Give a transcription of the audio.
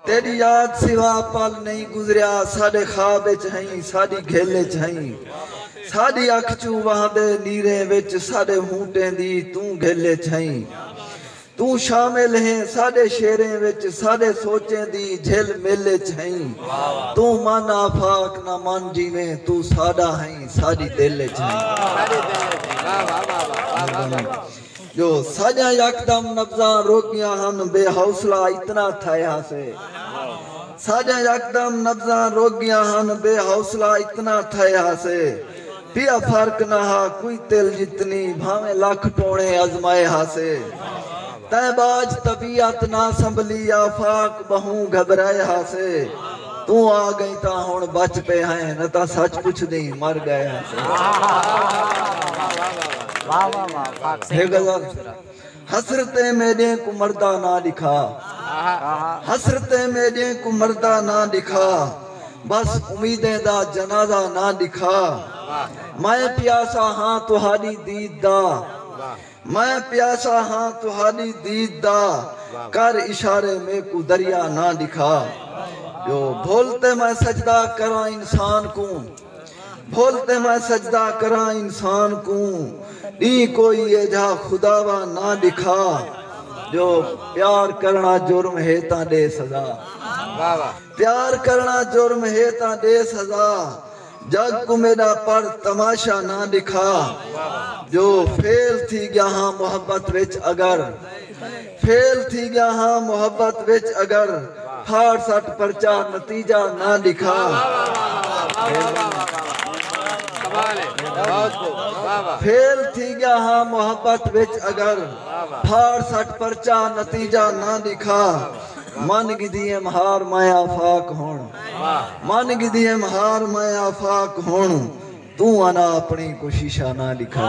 تیݙی یاد سوا پل نئیں گزریا ساݙے خواب اچ ہئیں ساݙی گھل اچ ہئیں ساݙی اکھ چوں وہندے نیریں وچ ساݙے ہونٹیں دی توں گھل اچ ہئیں توں شامل ہیں ساݙے شعریں وچ ساݙے سوچیں دی جھل مل اچ ہئیں توں من آفاق نہ من جیویں توں ساݙا ہئیں ساݙی دل اچ ہئیں۔ جو ساجاں یکدم نبضاں رک گیاں ہن بے حوصلہ اتنا تھئے ہاسے ساجاں یکدم نبضاں رک گیاں ہن بے حوصلہ اتنا تھئے ہاسے پیا فرق نہ ہا کوئی تل جتنی بھانویں لکھ ٹوݨے ازمائے ہاسے تیں باج طبیعت نہ سنبھلی آفاق ٻہوں گھبرائے ہاسے توں آ گئیں تاں ہنڑ بچ پئے ہیں نہ تاں سچ پچھدیں مر گئے ہیسیں۔ حسرتیں میڈیں کوں مردا نہ ڈکھا حسرتیں میڈیں کوں مردا نہ ڈکھا بس امیدیں دا جنازہ نہ ڈکھا میں پیاسا ہاں تہاڈی دید دا میں پیاسا ہاں تہاݙی دید دا کر اشارے میکوں دریا نہ ݙکھا ٻیو بھل تے میں سجدہ کراں انسان کوں بھل تے میں سجدہ کراں انسان کوں ݙینہہ کوئی ایجھا خداوا نہ ݙکھا ٻیو پیار کرݨا جرم ہے تاں ݙے سزا پیار کرݨا جرم ہے تاں ݙے سزا۔ جگ کوں میݙا پڑھ تماشا نہ ݙکھا جو فیل تھی ڳیا ہاں محبت وچ اگر فیل تھی ڳیا ہاں محبت وچ اگر پھاڑ سٹ پرچا نتیجہ نہ ݙکھا فیل تھی ڳیا ہاں محبت وچ اگر پھاڑ سٹ پرچا نتیجہ نہ ݙکھا من گھدی ایم ہار میں آفاق ہݨ من گھدی ایم ہار میں آفاق ہن توں انا اپنڑی کوششاں نہ ڈکھا۔